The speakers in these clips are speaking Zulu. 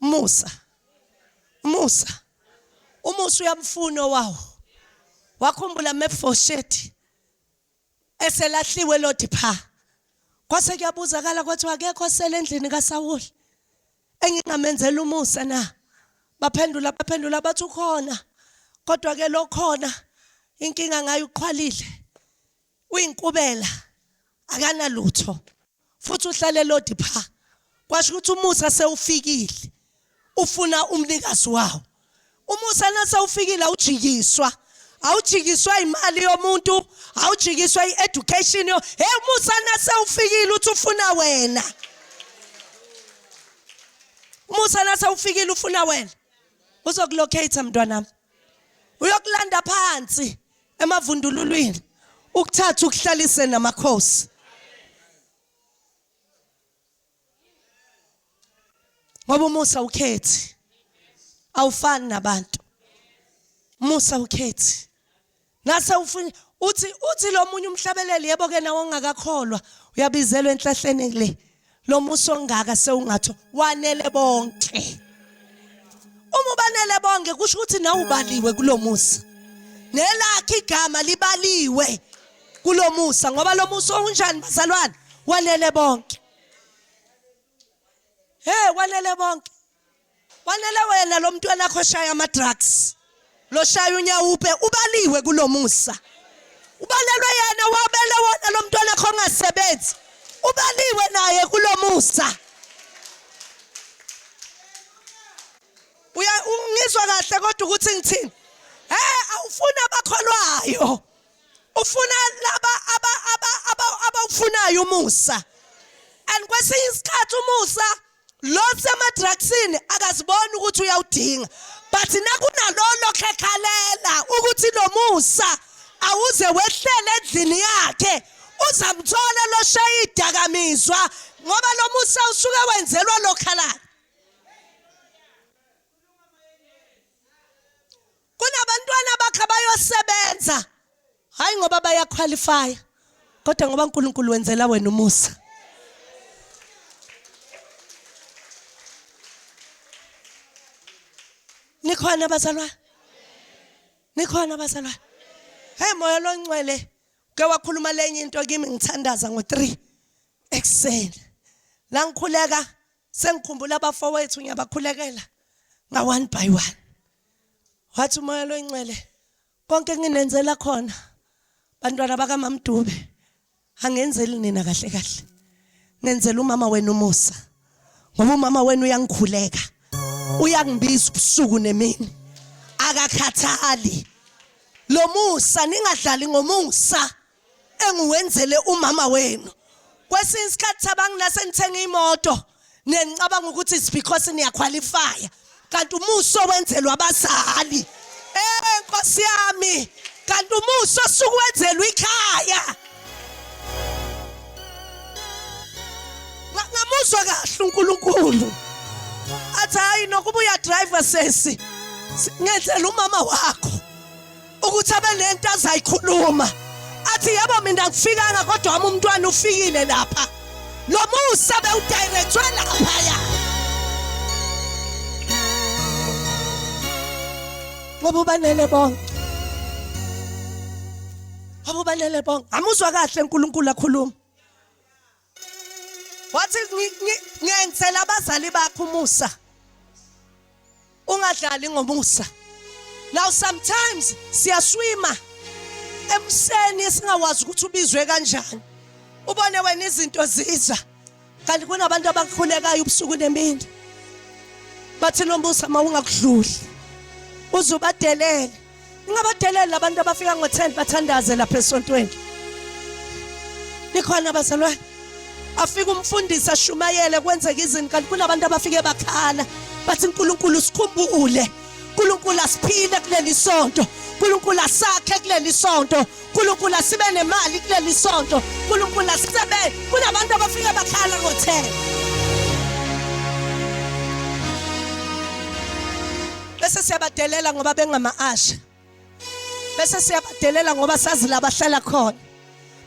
umusa umusa umusa uyamfuna owawo wakhumbula mefoshethi eselahliwe lodi pha kwase kuyabuzakala kwathiwa akekho osele endlini kaSawuli engingamenzela umusa na baphendula baphendula bathi ukhona kodwa ke lokhona inkinga ngayo uqhwalile uyinkubela akanalutho futhi uhlale lodi pha kwasho ukuthi umusa sewufikile ufuna umnikazi wawo umusa nasewufikile awujikiswa awujikiswa imali yomuntu awujikiswa i-education yo hey umusa nasewufikile uthi ufuna wena umusa nasewufikile ufuna wena uzokulocate mntwanami uyokulanda phansi emavundululwini ukuthatha ukuhlalise namakhosi ngoba umusa ukhethi awufani nabantu musa ukhethi Ngase ufuna uthi uthi lo munye umhlabeleli yebo ke nawe ongakakholwa uyabizelwa enhlahleni le lo muso ongaka sewungatho wanele bonke uma ubanele bonke kusho ukuthi nawe ubaliwe kulomusa nelakhe igama libaliwe kulomusa ngoba lo musa unjani bazalwane wanele bonke hey wanele bonke kwanele wena lo mntwana akho shaya ama-drugs lo shaya unyawupe ubaliwe kulo musa ubalelwe yena wabele wona lo mntwana akho ongasebenzi ubaliwe naye kulo musa uya ngizwa kahle kodwa ukuthi ngithini hey awufuna abakholwayo ufuna laba aba aba aba abawufunayo umusa and kwesinye isikhathi umusa lo semadrugsini akaziboni ukuthi uyawudinga but nakunalolo khekhalela ukuthi nomusa awuze wehlele endlini yakhe uzamthola lo shaya idakamizwa ngoba lo musa usuke wenzelwa lokhalala kunabantwana bakhe abayosebenza hayi ngoba bayaqualifya kodwa ngoba uNkulunkulu wenzela wena umusa nikhona abazalwane nikhona abazalwane hey moya loncwele ke wakhuluma lenye into kimi ngithandaza ngo3 ekseni la ngikhuleka sengikhumbula abafowethu ngiyabakhulekela nga one by one wathi umoya loyincele konke nginenzela khona bantwana bakamamdube angenzeli nina kahle kahle ngenzela umama wenu umusa ngoba umama wenu uyangikhuleka uyangibiza ubusuku nemini akakhathali lo musa ningadlali ngomusa engiwenzele umama wenu kwesinye isikhathi thabanga nase nithenga imoto nenicabanga ukuthi it's because niyakhwalifaya kanti umuso wenzelwa abazali eh nkosi yami kanti umuso sukuwenzelwa ikhaya ngamuzwa kahle uNkulunkulu athi hayi nokuba uyadriver sesi ngenzela umama wakho ukuthi abe nento azayikhuluma athi yebo mina ngifikanga kodwa wami umntwana ufikile lapha lo musa bewudirethwe laphaya ngoba ubanele bonke ngoba ubanele bonke amuzwa kahle uNkulunkulu akhuluma wathi ngenzela abazali bakho umusa ungadlali ngomusa now sometimes siyaswima emseni esingawazi ukuthi ubizwe kanjani ubone wena izinto ziza kanti kunabantu abakhulekayo ubusuku nemini bathi lombusa mawungakudluli uzubadelele ningabadeleli labantu abafika ngo-10 bathandaze lapha esontweni nikhona bazalwane afike umfundisi ashumayele kwenzeka izinto kanti kunabantu abafike bakhala bathi uNkulunkulu sikhumbule uNkulunkulu asiphile kuleli sonto uNkulunkulu asakhe kuleli sonto nkulunkulu asibe nemali kuleli sonto nkulunkulu asisebenze kunabantu abafike bakhala ngothela bese siyabadelela ngoba bengama-asha bese siyabadelela ngoba sazi la bahlala khona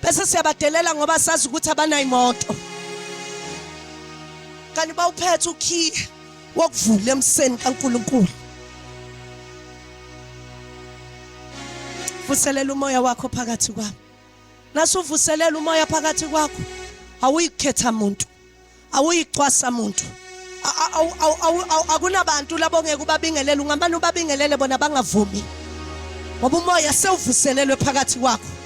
bese siyabadelela ngoba sazi ukuthi abanayimoto kanti bawuphethe ukhiye wakuvula emseni kaNkulunkulu vuselela umoya wakho phakathi kwami nasuvuselela umoya phakathi kwakho awuyikhetha muntu awuyicwasa muntu akunabantu labo ngeke ubabingelele ungamane ubabingelele bona bangavumi ngoba umoya sewuvuselelwe phakathi kwakho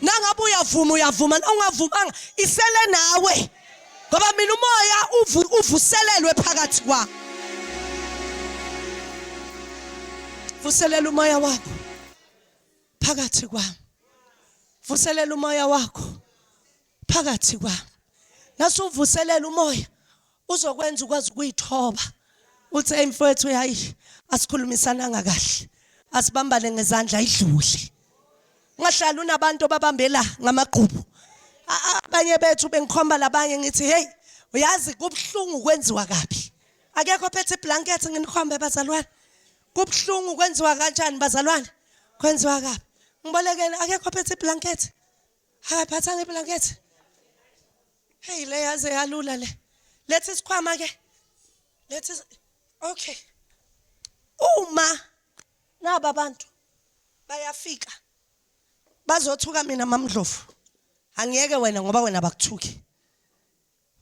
nangabe uyavuma uyavuma ungavumanga isele nawe ngoba mina umoya uvuselelwe phakathi kwakho vuselela umoya wakho phakathi kwami vuselela umoya wakho phakathi kwami nasuvuselela umoya uzokwenza ukwazi ukuyithoba uthi hey mfowethu hayi asikhulumisananga kahle asibambane ngezandla idlule ngahlala unabantu babambela ngamagqubu abanye bethu bengikhomba labanye ngithi hey uyazi kubhlungu kwenziwa kabi akekho phethe iblanket nginikhombe bazalwane kubhlungu kwenziwa kanjani bazalwane kwenziwa kabi ngibolekele akekho phethe iblanket Haya phatha ngeblanket. Hey le yaze yalula le. Letha isikhwama ke. Letha Okay. Uma naba abantu bayafika bazothuka mina mamdlovu. Angiyeke wena ngoba wena bakuthuki.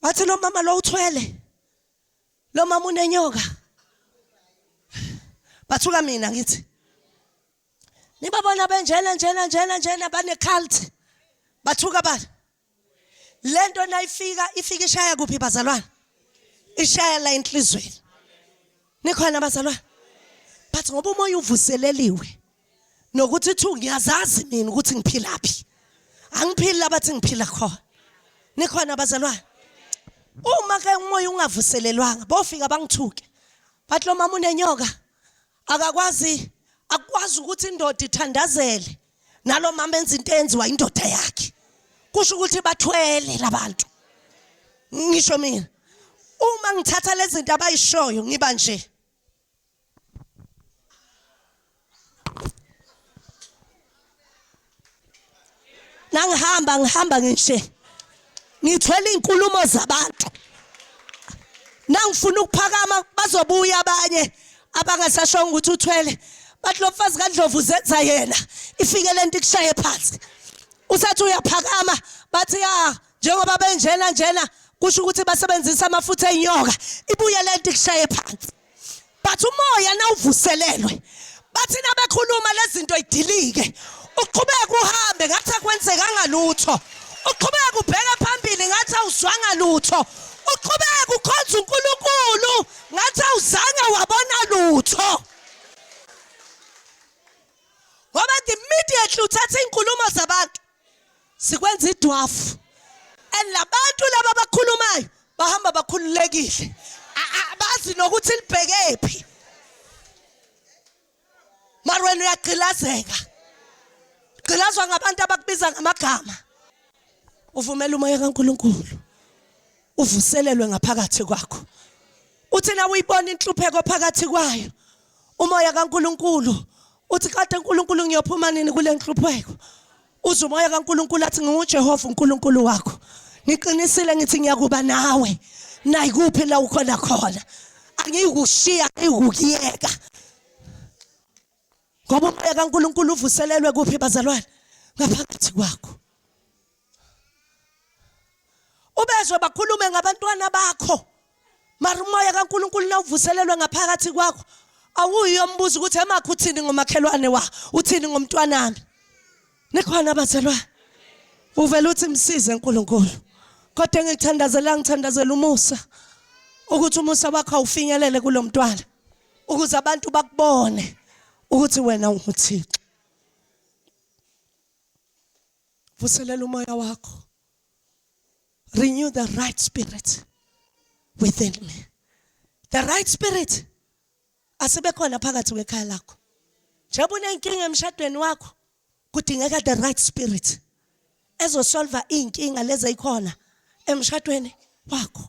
Bathi lo mama lo uthwele. Lo mama unenyoka. Bathuka mina ngithi. nibabona benjena njena njena njena bane-cult bathuka abantu le nto nayifika ifika ishaya kuphi bazalwane ishaya la enhlizweni nikhona bazalwane but ngoba umoya uvuseleliwe nokuthi ithu ngiyazazi mina ukuthi ngiphilaphi angiphili labathi ngiphila khona nikhona bazalwane uma ke umoya ungavuselelwanga bofika bangithuke bathi lo mama unenyoka akakwazi akwazi ukuthi indoda ithandazele nalomama enza into enziwa indoda yakhe kusho ukuthi bathwele labantu ngisho mina uma ngithatha lezinto abayishoyo ngiba nje ngangihamba ngihamba ngishe ngithwele izinkulumo zabantu nangifuna ukuphakama bazobuya abanye abangasashonga ukuthi uthwele bathi lo mfazi kaNdlovu uzenza yena ifike lento ikushaye phansi usathi uyaphakama bathi ya njengoba benjena njena kusho ukuthi basebenzisa amafutha enyoka ibuye lento ikushaye phansi but umoya nawuvuselelwe bathi nabekhuluma lezinto idilike uqhubeke uhambe ngathi akwenzekanga lutho uqhubeke ubheke phambili ngathi awuzwanga lutho uqhubeke ukhonza uNkulunkulu ngathi awuzange wabona lutho ngoba immediately uthatha izinkulumo zabantu sikwenza idwafu and labantu laba abakhulumayo bahamba bakhululekile abazi nokuthi libheke phi mara wena uyagqilazeka gqilazwa ngabantu abakubiza ngamagama uvumela umoya kaNkuluNkulu uvuselelwe ngaphakathi kwakho uthi na uyibona inhlupheko phakathi kwayo umoya kaNkuluNkulu uthi kade uNkuluNkulu ngiyophuma nini kule nhlupheko uze umoya kaNkuluNkulu athi nginguJehova uNkuluNkulu wakho ngiqinisile ngithi ngiyakuba nawe nayikuphi la ukhona khona angiyikushiya ngiyikuyeka ngoba umoya kaNkuluNkulu uvuselelwe kuphi bazalwane ngaphakathi kwakho ubezwe bakhulume ngabantwana bakho mara umoya kaNkuluNkulu nawuvuselelwe ngaphakathi kwakho awuyo umbuzo ukuthi emakho uthini ngomakhelwane wa uthini ngomntwanami nikhona abazelwa uvela uthi msize uNkulunkulu kodwa engithandazela ngithandazela umusa ukuthi umusa wakho awufinyelele kulomntwana ukuze abantu bakubone ukuthi wena unguThixo vuselela umoya wakho renew the right spirit within me the right spirit asebekhona phakathi kwekhaya lakho njengoba unenkinga emshadweni wakho kudingeka the right spirit ezosolva inkinga lezi ezikhona emshadweni wakho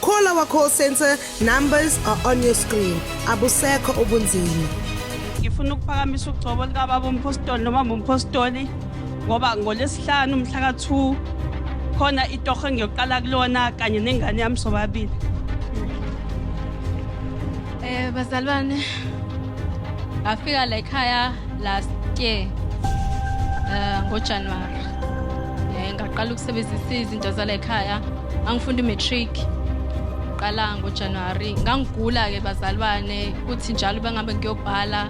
Call our call center numbers are on your screen. Abusekho ubunzima. Ngifuna ukuphakamisa ugcobo lika baba umpostoli noma umpostoli ngoba ngolesihlanu umhla ka2 khona itoho engiyoqala kulona kanye nengane yami sobabili. Eh bazalwane ngafika la ekhaya last year eh ngoJanuary. Eh ngaqala ukusebenzisa izinto zala ekhaya angifunda i-matric qala ngojanuwari ngangigula-ke bazalwane kuthi njalo bengabe ngiyobhala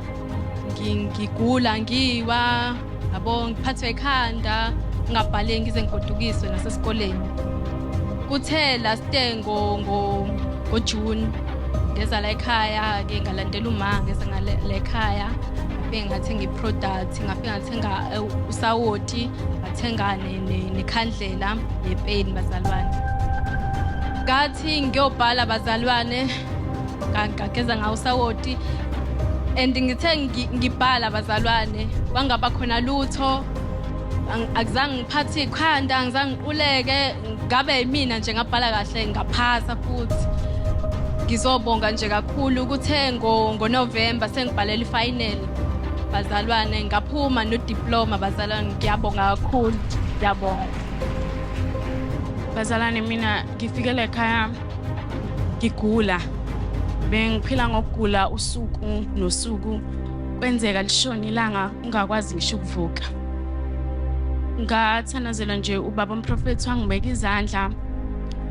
ngigula ngiwa yabo ngiphathwe ekhanda ngingabhale ngize ngigodukiswe nasesikoleni kuthe last day ngojuni ngeza la ekhaya-ke ngalandela uma ngeza ngala ekhaya ngafike ngathenga i-product ngafike ngathenga eh, usawoti ngathengane nekhandlela nepeni bazalwane ngathi ngiyobhala bazalwane ngageza ngawo usawoti and ngithe ngibhala bazalwane kwangaba khona lutho akuzange ngiphathe ikhanda ngizange ngiquleke ngabe yimina nje ngabhala kahle ngaphasa futhi ngizobonga nje kakhulu kuthe ngonovemba sengibhalela ifinal Bazalwane ngaphuma no diploma bazalwane ngiyabonga kakhulu ngiyabonga. Bazalwane mina ngifike la ekhaya ngigula bengiphila ngokugula usuku nosuku kwenzeka lishona ilanga ungakwazi ngisho ukuvuka ngathandazelwa nje ubaba umprofethi wangibeka izandla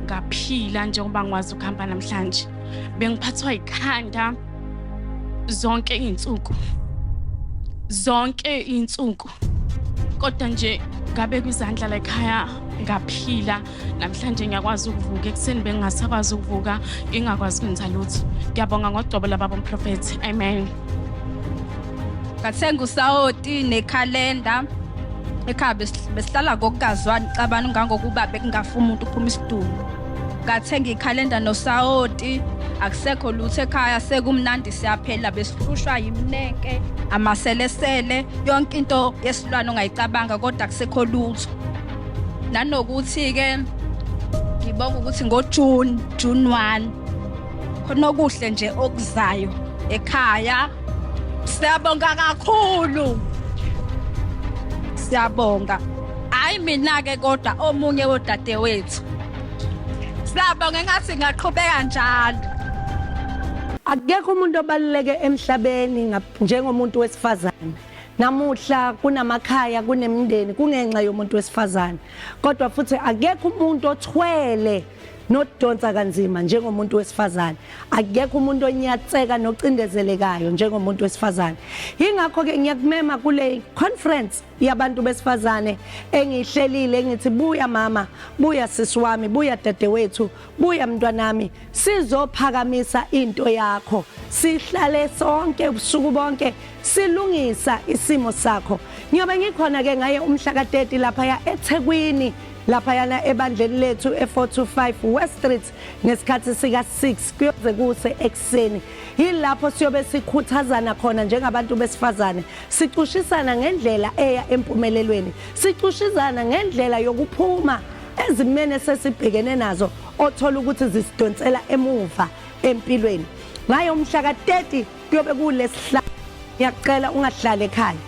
ngaphila njengoba ngikwazi ukuhamba namhlanje bengiphathwa yikhanda zonke iy'nsuku zonke iy'nsuku kodwa nje ngabe kwizandla layikhaya ngaphila namhlanje ngiyakwazi ukuvuka ekuseni bengingasakwazi ukuvuka ngingakwazi kwenza lutho ngiyabonga ngogcobo lababa umprofethi amen ngathenga usawoti nekhalenda ekhaya besihlala ngokungazwani cabani ngangokuba bekungafuni umuntu uphuma isidumbu ngathenga ikhalenda nosawoti akusekho lutho ekhaya sekumnandi siyaphela besihlushwa yimneke amaselesele yonke into yesilwane ongayicabanga kodwa kusekho lutho nanokuthi-ke ngibonga ukuthi ngojuni june 1 khona okuhle nje okuzayo ekhaya Siyabonga kakhulu. Siyabonga. Hayi mina ke kodwa omunye wodadewethu. Siyabonga ngathi ngaqhubeka njalo. Akekho umuntu obaluleke emhlabeni njengomuntu wesifazane. Namuhla kunamakhaya kunemindeni kungenxa yomuntu wesifazane. Kodwa futhi akekho umuntu othwele nodonsa kanzima njengomuntu wesifazane akekho umuntu onyatseka nocindezelekayo njengomuntu wesifazane ingakho ke ngiyakumema kule conference yabantu besifazane engihlelile ngithi buya mama buya sisi wami buya dadewethu buya mntwanami sizophakamisa into yakho sihlale sonke ubusuku bonke silungisa isimo sakho ngiyobe ngikhona ke ngaye umhla ka 30 lapha ya eThekwini laphayana ebandleni lethu e-425 West Street ngesikhathi sika-6 kuyoze kuse ekuseni yilapho siyobe sikhuthazana khona njengabantu besifazane sicushisana ngendlela eya empumelelweni sicushizana ngendlela yokuphuma ezimene sesibhekene nazo othola ukuthi zisidonsela emuva empilweni ngayo umhla ka-30 kuyobe kulesihlanu ngiyacela ungahlali ekhaya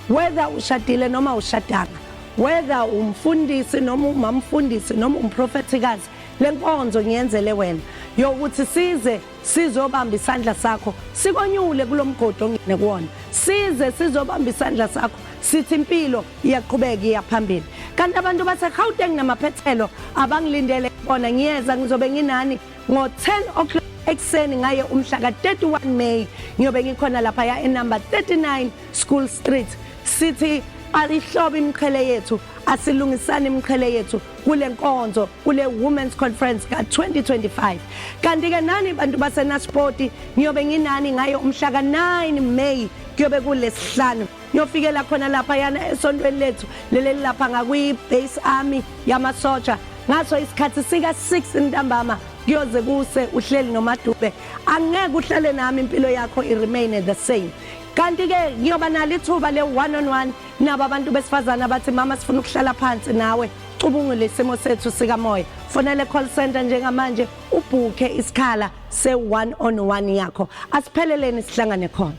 whether ushadile noma ushadanga whether umfundisi noma umamfundisi noma umprofethikazi lenkonzo ngiyenzele wena yokuthi size sizobamba isandla sakho sikonyule kulomgodi ongene kuwona size sizobamba isandla sakho sithi impilo iyaqhubeka iyaphambili kanti abantu baseGauteng namaphethelo abangilindele bona ngiyeza ngizobe nginani ngo-10 o'clock ekuseni ngaye umhla ka-31 May ngiyobe ngikhona laphaya enumber 39 School Street sithi alihlobe imiqhele yethu asilungisane imiqhele yethu kule nkonzo kule women's conference ka-2025 kanti-ke nani bantu basenaspoti ngiyobe nginani ngayo umhla ka-9 may kuyobe kulesihlanu Yofikela khona lapha yana esontweni lethu leleli lapha ngakwi-base army yamasotsha ngaso isikhathi sika-6 ntambama kuyoze kuse uhleli nomadube angeke uhlale nami impilo yakho i-remaine the same kanti-ke ngiyoba nalo ithuba le-one on one nabo abantu besifazane abathi mama sifuna ukuhlala phansi nawe ucubungule isimo sethu sikamoya fonele call center njengamanje ubhukhe isikhala se-one on one yakho asipheleleni sihlangane khona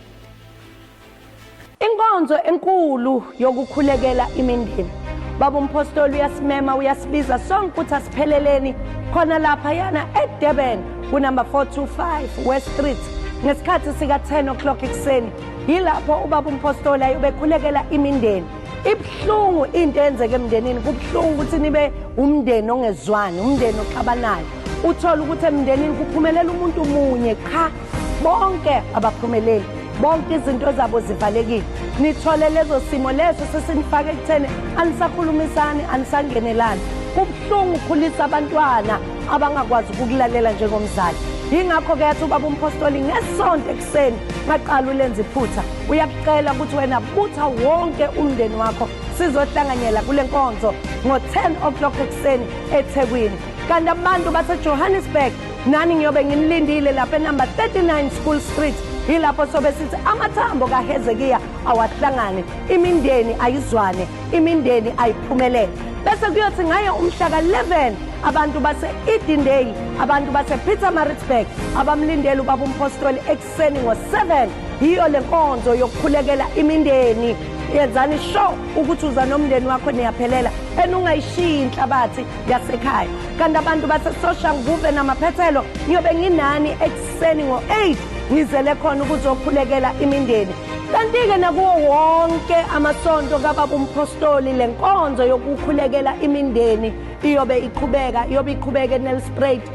Inkonzo enkulu yokukhulekela imindeni. Baba umpostoli uyasimema uyasibiza sonke ukuthi asipheleleni khona lapha yana eDurban kunumber 425 West Street ngesikhathi sika-10 o'clock ekuseni yilapho ubaba umpostoli ayobekhulekela imindeni ibuhlungu into eyenzeke emndenini kubuhlungu ukuthi nibe umndeni ongezwani umndeni oxabanayo uthole ukuthi emndenini kuphumelela umuntu munye qha bonke abaphumeleli bonke izinto zabo zivalekile nithole lezo simo leso sesinifake ekutheni anisakhulumisani anisangenelani kubuhlungu ukukhulisa abantwana abangakwazi ukukulalela njengomzali yingakho-ke yathi ubaba umphostoli ngesonto ekuseni maqala ulenza iphutha uyakucela ukuthi wena butha wonke umndeni wakho sizohlanganyela kule nkonzo ngo-10 o'clock ekuseni ethekwini kanti abantu basejohannesburg nani ngiyobe nginilindile lapha enumber 39 school street yilapho sobe sithi amathambo kahezekiya awahlangane imindeni ayizwane imindeni ayiphumelele bese kuyothi ngaye umhla ka-11 abantu base-edendale abantu base-peter maritzburg abamlindele ubaba umpostoli ekuseni ngo-7 yiyo le nkonzo yokukhulekela imindeni yenzani sho ukuthi uza nomndeni wakho niyaphelela and ungayishiyi inhlabathi yasekhaya kanti abantu basesosha nguve namaphethelo ngiyobe nginani ekuseni ngo-8 ngizele khona ukuzokhulekela imindeni kanti-ke nakuwo wonke amasonto kababa umphostoli le nkonzo yokukhulekela imindeni iyobe iqhubeka iyobe iqhubeka enelspruit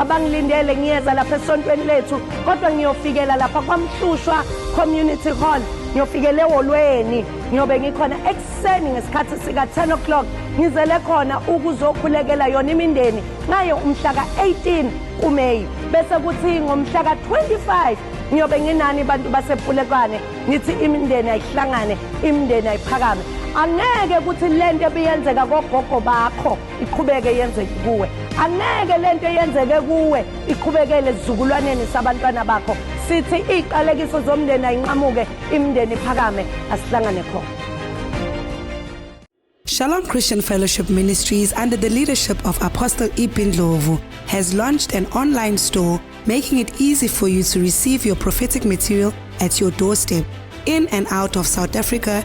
abangilindele ngiyeza lapha esontweni lethu kodwa ngiyofikela lapha kwamhlushwa community hall ngiyofikela ewolweni ngiyobe ngikhona ekuseni ngesikhathi sika-10 o'clock ngizele khona ukuzokhulekela yona imindeni ngayo umhla ka-18 kumeyi bese kuthi ngomhla ka-25 ngiyobe nginani bantu basepulekwane ngithi imindeni ayihlangane imindeni ayiphakame angeke ukuthi le nto ebiyenzeka kogogo bakho iqhubeke yenzeke kuwe angeke lento eyenzeke kuwe iqhubekele sizukulwaneni sabantwana bakho sithi iqalekiso zomndeni ayinqamuke imndeni iphakame asihlangane khona Shalom Christian Fellowship Ministries, under the leadership of Apostle Ibin Lovu, has launched an online store making it easy for you to receive your prophetic material at your doorstep in and out of South Africa,